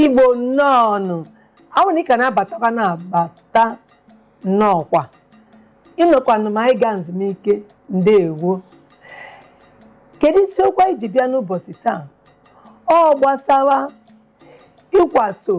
igbo nnọọnụ awụ na ị ka na-abatakwa na-abata nnọọkwa ị nọkwanụ ma anyị gaa nzumike ndeewo kedu isiokwu anyị ji bịa n'ụbọchị taa ọ gbasara ịkwaso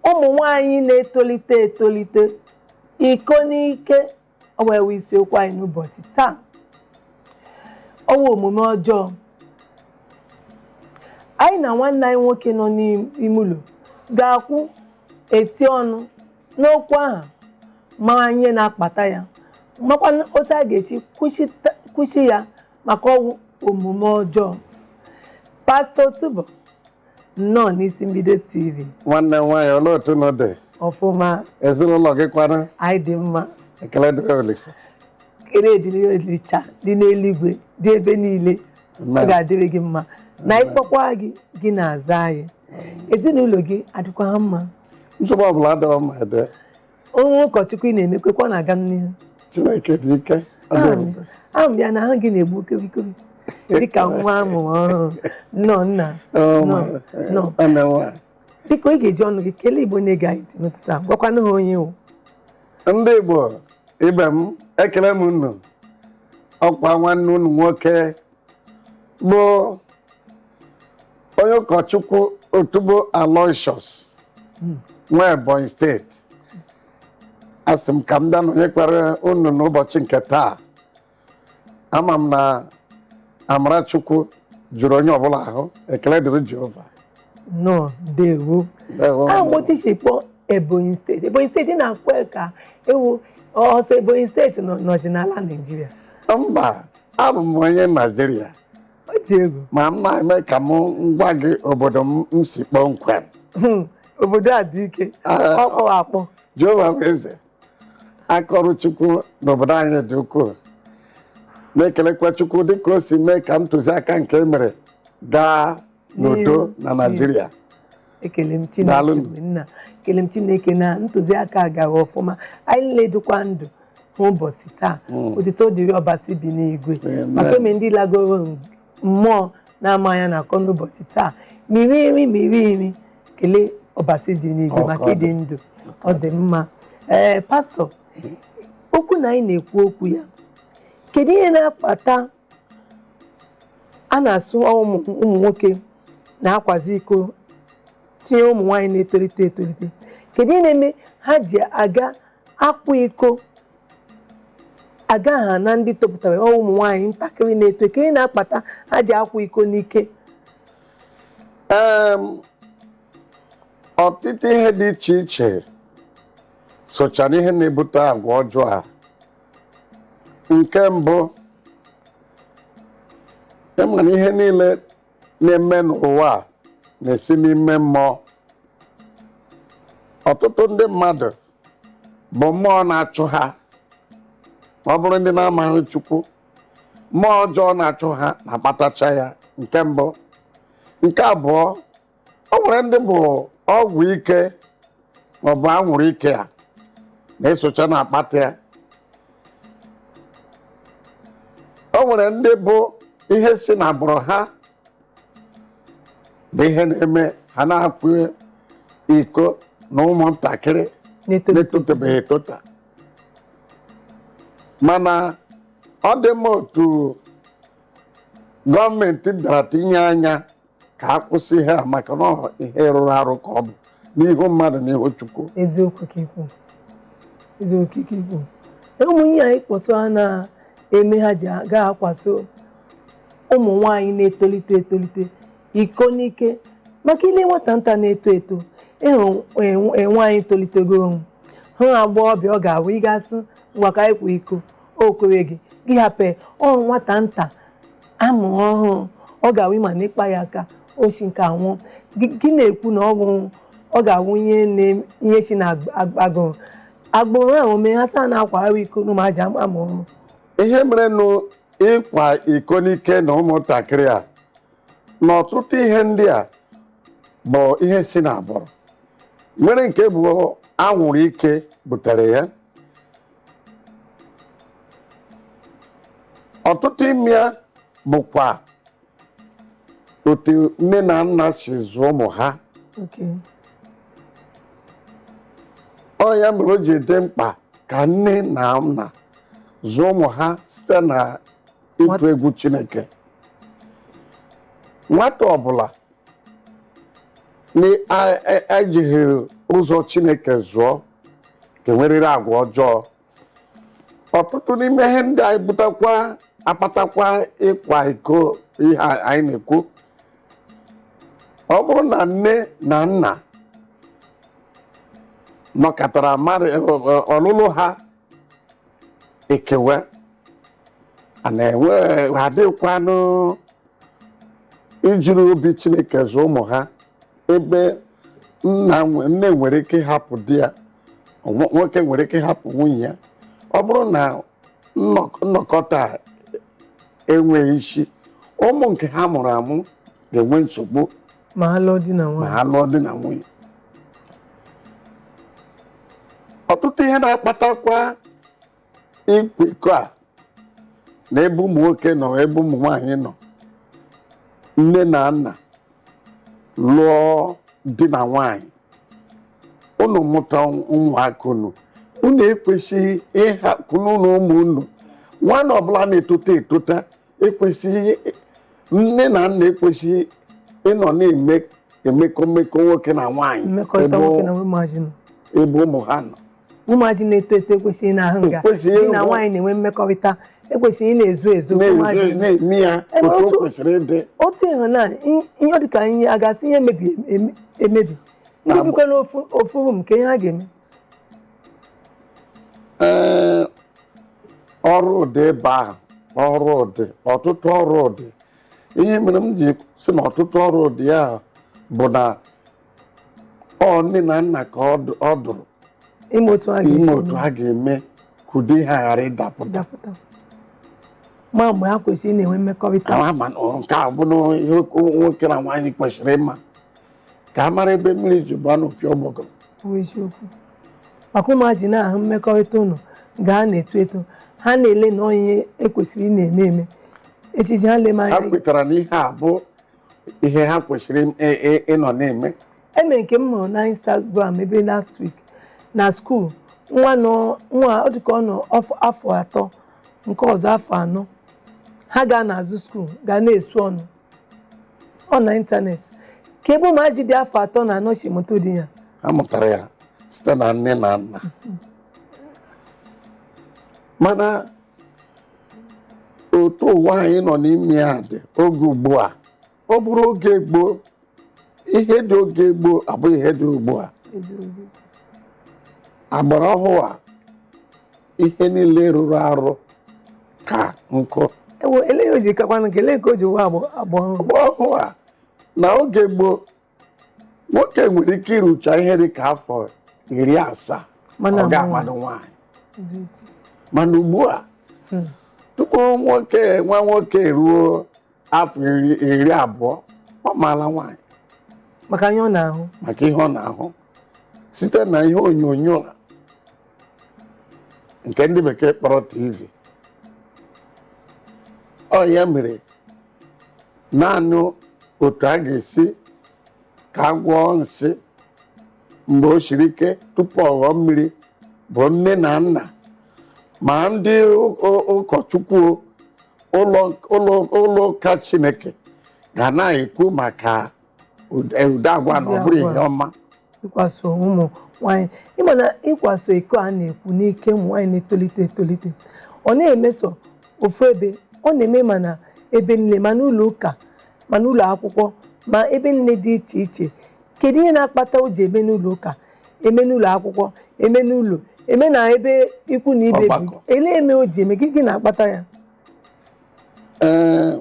ụmụ nwanyị na-etolite etolite iko n'ike ọwụ ya wụ isiokwu anyị n'ụbọchị taa ọwụ omume ọjọọ anyị na nwanne anyị nwoke nọ n'ime ụlọ ga-akwụ eti ọnụ n'okwu ahụ ma ihe na-akpata ya makwa otu a ga-esi kwụsị ya maka ọwụ omume ọjọọ pastọ Otubo nnọọ n'isi mbido tv nwanne m nwaanyị olee otu unu dị ọfụma ezinụlọ gị kwanụ anyị dị mma ekele dịrị olisa ekele dịrị olisa dị n'eluigwe dị ebe niile ọ Amen. ga-adịrị gị mma na anyị kpọkwa gị gị na-aza anyị ezinụlọ gị adịkwa ha mma nsogbu ọbụla adịrọ ọ ma adị Onye ụkọchukwu ị na-emekwe ka ọ na-aga m n'ihu. Chineke dị ike. Ahụ m ya na ahụ gị na-egbuke egbuke dịka nwa amụrụ ọhụrụ nnọọ nna nnọọ. Biko ị ga-eji ọnụ gị kelee Igbo na-ege anyị ntị n'ụtụtụ a gwakwanụ ha onye ị wụ. Ndị Igbo ibe m ekele m unu ọkwa nwanne unu nwoke bụ onye ụkọchukwu otubo aloysius nwa ebonyi steeti asị m ka m bịa nọnyekwara unu n'ụbọchị nke taa ama m na amarachukwu jụrụ onye ọbụla ahụ ekele dịrị jehova nnọọ ndewo Ndewo, a ndewo. otu ị si kpọọ ebonyi steeti ebonyi steeti na-akwe ka ọ wụ sọọ ebonyi steeti nọ nọchi n'ala naijiria mba abụ m onye naijiria ọ dị egwu ma m na-eme ka m gwa gị obodo m si kpọmkwem hmm, obodo a dị ike ah, ọkpọ akpọ jehova bụ eze akaọrụ chukwu n'obodo anyị dị ukwuu na-ekelekwa chukwu dịka o si mee ka ntụziaka nke e mere gaa n'udo na naijiria ekele m chineke nna ekele m chineke na ntụziaka gara ọfụma anyị niile dịkwa ndụ n'ụbọchị taa hmm. otito dịrị ọbasi bi n'igwe maka eme ndị lagoro mmụọ na-amaghị ihe a na-akọ n'ụbọchị taa m rie nri m rie nri kelee ọbasi dị n'igwe maka ịdị ndụ ọ dị mma ee eh, pastọ okwu na anyị na-ekwu okwu ya kedu ihe na-akpata a na-asụ ụmụ ụmụ nwoke na-akwazi iko tinye ụmụ nwaanyị na-etolite etolite kedu ihe na-eme ha ji aga akwa iko aga ha na ndị topụtara ọ ụmụ nwaanyị ntakịrị na-eto kedu ihe na-akpata ha ji akwa iko n'ike Em, ọtụtụ ihe dị iche iche socha n'ihe na-ebute agwa ọjọọ a nke mbụ ị ma na ihe niile na-eme n'ụwa a na-esi n'ime mmụọ ọtụtụ ndị mmadụ bụ mmụọ na-achụ ha ma ọ bụrụ ndị na-amaghị chukwu mmụọ ọjọọ na-achụ ha na-akpatacha ya nke mbụ nke abụọ o nwere ndị bụ ọgwụ ike maọbụ anwụrụ ike a na-esocha na-akpata ya o nwere ndị bụ ihe si na agbụrụ ha bụ ihe na-eme ha na-akwa iko na ụmụntakịrị N'eto- na-etotabeghị etota mana ọ dị mma otu gọọmenti bịara tinye anya ka a kwụsị ihe a maka na ọ ihe rụrụ arụ ka ọ bụ n'ihu mmadụ na ihu chukwu eziokwu ka i kwu eziokwu ka i kwu ụmụ ihe a ị kpọsị aha na-eme ha ji aga akwaso ụmụ nwaanyị na-etolite etolite iko n'ike maka i lee nwata nta na-eto eto ị hụ e- e- nwaanyị tolitego wụrụ agbọghọbịa ọ ga-abụ ị ga-asị ngwa ka anyị kwa iko o kwereghị gị hapụ ya. ọ nwata nta a mụ ọhụụ ọ ga-awụ ị ma na ị kpa ya aka o si nke a nwụọ Gị- gị na-ekwu na ọ nwụrụ ọ ga-awụ ihe na- ihe si na ag- ag- agụrụ agbụrụ ahụ mee ha saa na-akwa arụ iko n'ụmụazị a mụ ọhụụ ihe merenụ ịkwa iko n'ike na ụmụntakịrị a na ọtụtụ ihe ndị a bụ ihe si n'agbụrụ nwere nke bụ anwụrụ ike butere ya ọtụtụ ime ya bụkwa otu nne na nna si zụọ ụmụ ha Okay. ọ ya mere o ji dị mkpa ka nne na nna zụọ ụmụ ha site na ịtụ egwu chineke nwata ọbụla na a- a- ejighị ụzọ chineke zụọ ga-enwerịrị agwa ọjọọ ọtụtụ n'ime ihe ndị a na-ebutakwa akpatakwa ịkwa iko ihe a anyị na-ekwu ọ bụrụ na nne na nna nọkọtara mara ọlụlụ ha ikewa and ha dịkwanụ ijiri obi chineke zụọ ụmụ ha ebe nna nwe- nne nwere ike ịhapụ di ya nwo- nwoke nwere ike ịhapụ nwunye ya ọ bụrụ na nnọk- nnọkọta enweghị isi ụmụ nke ha mụrụ amụ ga-enwe nsogbu ma ha lụọ di na ma nwaanyị ha lụọ di na nwunye ọtụtụ ihe na-akpatakwa ịkwa iko a na ebe ụmụ nwoke nọ ebe ụmụ nwaanyị nọ nne na nna lụọ di na nwaanyị unu mụta ụmụaka unu unu ekwesịghị ịhapụ n'ụlọ ụmụ unu nwa unu ọbụla na-etota etota ekwesịghị nne na nna ekwesịghị ịnọ na-eme emekọ mmekọ nwoke na nwaanyị mmekọrịta ebe nwoke na ụmụazị nọ ebe ụmụ ha nọ ụmụazị na-eto eto ekwesịghị na-ahụ nga Ekwesịghị di na ịhụ- nwaanyị na-enwe mmekọrịta e kwesịrị na-ezo ezo ka ụmụazị na-ezo- nọ. na-eme ya Ebe otu o otu- kwesịrị ịdị otu ịhụnanya i- ihe ọ dị ka ihe a ga-asị ihe mebi eme- emebi ndị Na- bikwa n'ofu ofu rum ka ihe ha ga-eme ee ọrụ dị ebe ahụ ọrụ dị ọtụtụ ọrụ dị ihe mere m ji sị na ọtụtụ ọrụ dị ya bụ na ọ nne na nna ka ọ dụ- ọ dụrụ ime otu a ga-esi ime otu ha ga-eme ka ụdị ihe a ghara ịdapụta dapụta ma mgbe ha kwesịrị ị na-enwe mmekọrịta Ama ma na nke a bụ na ihe nwoke na nwaanyị kwesịrị ịma ka a mara ebe mmiri ji baa n'opi ụgbọgụ bụ eziokwu maka ụmụazị na-ahụ mmekọrịta unu gaa na-eto eto ha na-ele na ọ ihe e kwesịrị ị na-eme eme echi echi ha leme ha anya kwetara na ihe a bụ ihe ha kwesịrị ị- ị- ị- ịnọ na-eme eme nke m hụrụ na instagram ebe last week na skuul nwa nọ nwa ọ dịka ọ nọ ọf- afọ atọ nke ọzọ afọ anọ ha gaa n'azụ skuul gaa na-esu ọnụ ọ na ịntanetị ka ebe ụmụaji dị afọ atọ na anọ si mụta ụdị ya ha mụtara ya site na nne na nna mana otu ụwa anyị nọ n'ime ya dị oge ugbu a ọ bụrụ oge gboo ihe dị oge gboo abụghị ihe dị ugbu a eziokwu agbara ọhụụ a ihe niile rụrụ arụ ka nkụ ewo eleghị o ji kakwanụ nke ele nke o ji wụọ agbọ agbọ ọhụrụ mgbe ọhụụ a na oge gboo nwoke nwere ike irucha ihe dị ka afọ iri asaa Mana ọ ga-amadụ nwaanyị mana ugbu a tupu nwoke nwa nwoke ruo afọ iri iri abụọ ọ maala nwaanyị maka ihe ọ na-ahụ maka ihe ọ na-ahụ site na ihe onyonyo a nke ndị bekee kpọrọ tv ọ ya mere naanị otu a ga-esi ka a gwọọ nsị mgbe o siri ike tupu ọ ghọọ mmiri bụ nne na nna ma ndị ụ- ụ- ụkọchukwu o, ụlọ ụlọ ụlọ ụka chineke ga na-ekwu maka ụdị ụdị agwa na ọ bụrọ ihe ọma ịkwaso ụmụ nwanyị ị ma na ịkwaso iko a na-ekwu n'ike ụmụ nwanyị na-etolite etolite ọ naghị eme sọ ofu ebe ọ na-eme ma na ebe nile ma n'ụlọ ụka ma n'ụlọ akwụkwọ ma ebe nile dị iche iche kedu ihe na-akpata o ji eme n'ụlọ ụka eme n'ụlọ akwụkwọ eme n'ụlọ eme na ebe ikwu na ibe bi Ọgbakọ. ele eme o ji eme gị gịnị na-akpata ya ee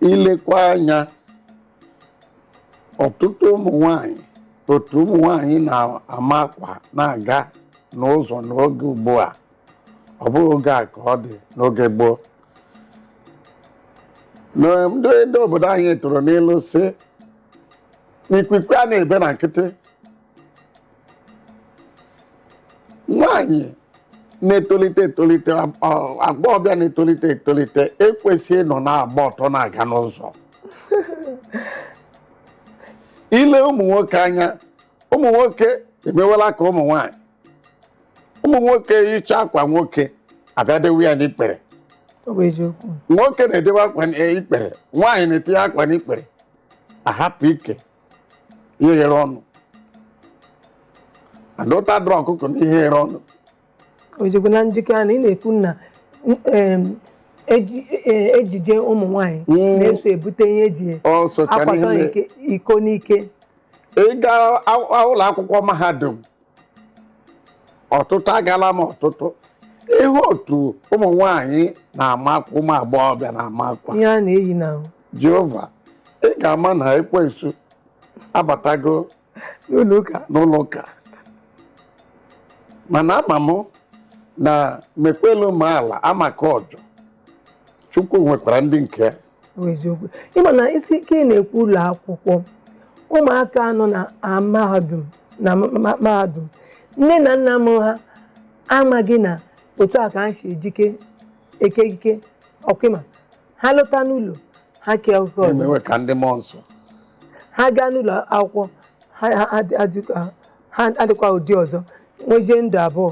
i lekwa anya ọtụtụ ụmụ nwanyị otu ụmụ nwanyị na-ama akwa na-aga n'ụzọ n'oge ugbu a ọ bụghị oge a ka ọ dị n'oge gboo na ndị ndị obodo anyị tụrụ n'ilu sị na ikwikwi anaghị ebe na nkịtị nwaanyị na-etolite etolite ọ- agbọghọbịa na-etolite etolite ekwesịghị ịnọ na-agba ọtọ na-aga n'ụzọ i lee ụmụ nwoke anya ụmụ nwoke emewela ka ụmụ nwaanyị ụmụ nwoke yicha akwa nwoke abịa dewe ya n'ikpere ọ bụ eziokwu nwoke na-edewe akwa n'ikpere nwaanyị na-etinye akwa n'ikpere ahapụ ike ihe ghere ọnụ adọta dọrọ ọkụkọ na ihe ghere ọnụ ozugbo na njikọ a na ị na-ekwu na em, eji- e- ejije ụmụ nwanyị Mm. na-eso ebute ihe e ji o sochara ihe akwaso mere. ike- iko n'ike ị gaa a- a- ụlọ akwụkwọ mahadum ọtụtụ agala m ọtụtụ ihe otu ụmụ nwanyị na-ama akwa ụmụ agbọghọbịa na-ama akwa ihe a na-eyi na jehova ị ga-ama na ekwensu abatago n'ụlọ ụka n'ụlọ ụka mana ama m na mekwelu m ala amaka ọjọ chukwu nwekwara ndị nke ya eziokwu ị ma na isi ike ị na-ekwu ụlọ akwụkwọ ụmụaka nọ na a mahadum na ma- ma- mahadum nne na nna mụ ha amaghị na otu a ka ha si ejike ekike ọkụma ha lọta n'ụlọ ha kee ekike ọzọ emewe ka ndị mmụọ nsọ ha gaa n'ụlọ akwụkwọ ha ha- ha- ha dịkwa- ha adịkwa ụdị ọzọ nwezie ndụ abụọ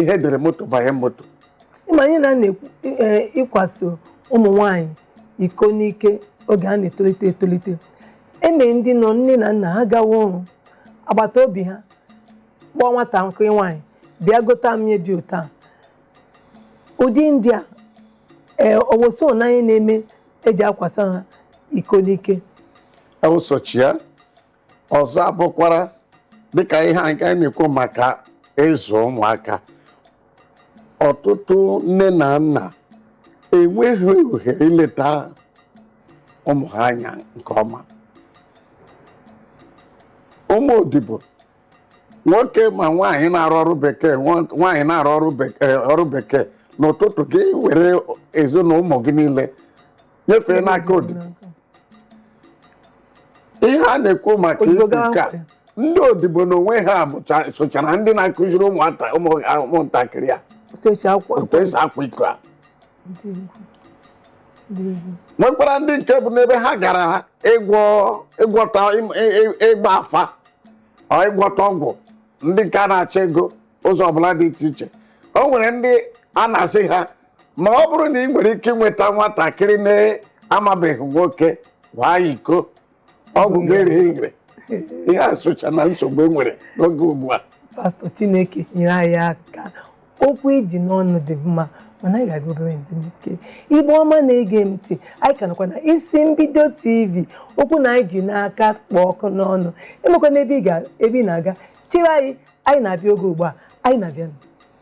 ihe dere moto banye moto ị ma ihe anyị na-ekwu eh, ịkwaso ụmụ nwanyị iko n'ike oge ha na-etolite etolite e nwee ndị nọ nne na nna ha gawa ọrụ agbata obi ha kpọọ nwatakịrị nwaanyị bịa gota m ihe dị otu a ụdị ndị a ee owoso na ihe na-eme e ji akwasa ha iko n'ike ewụsọchi ya ọzọ abụkwara dịka ihe a nke anyị na-ekwu maka ịzụ ụmụaka ọtụtụ nne na nna enweghị ohere ileta ụmụ ha anya nke ọma ụmụ odibo nwoke ma nwaanyị na-arụ ọrụ bekee nwa- nwaanyị na-arụ ọrụ bekee n'ụtụtụ gị were ezinụlọ ụmụ gị niile nyefee n'aka odibo ihe a na-ekwu maka odibo ikwu gawa nke a nkwụ. ndị odibo n'onwe ha bụcha socha na ndị na-akụziri ụmụata ụmụ- a- ụmụntakịrị a otu esi akwụ otu esi akwa iko a ndị egwu ndị egwu nwekwara ndị nke bụ n'ebe ha gara ịgwọ ịgwọta im- ị- ị- ịgba afa or ịgwọta ọgwụ ndị nke a na-achọ ego ụzọ ọbụla dị iche iche o nwere ndị a na-asị ha ma ọ bụrụ na ị nwere ike ịnweta nwatakịrị na-amabeghị nwoke kwaa iko ọgwụ gị ere ire ihe a socha na nsogbu e nwere n'oge ugbu a pastọ chineke nyere anyị aka okwu i ji n'ọnụ dị mma mana anyị ga-aga obere ezumike igbo ọma na-ege m ntị anyị ka nọkwa na isi mbido tv okwu na anyị ji n'aka kpụ ọkụ n'ọnụ enwekwana ebe ị ga- ebe ị na-aga chere anyị anyị na-abịa oge ugbu a anyị na-abịa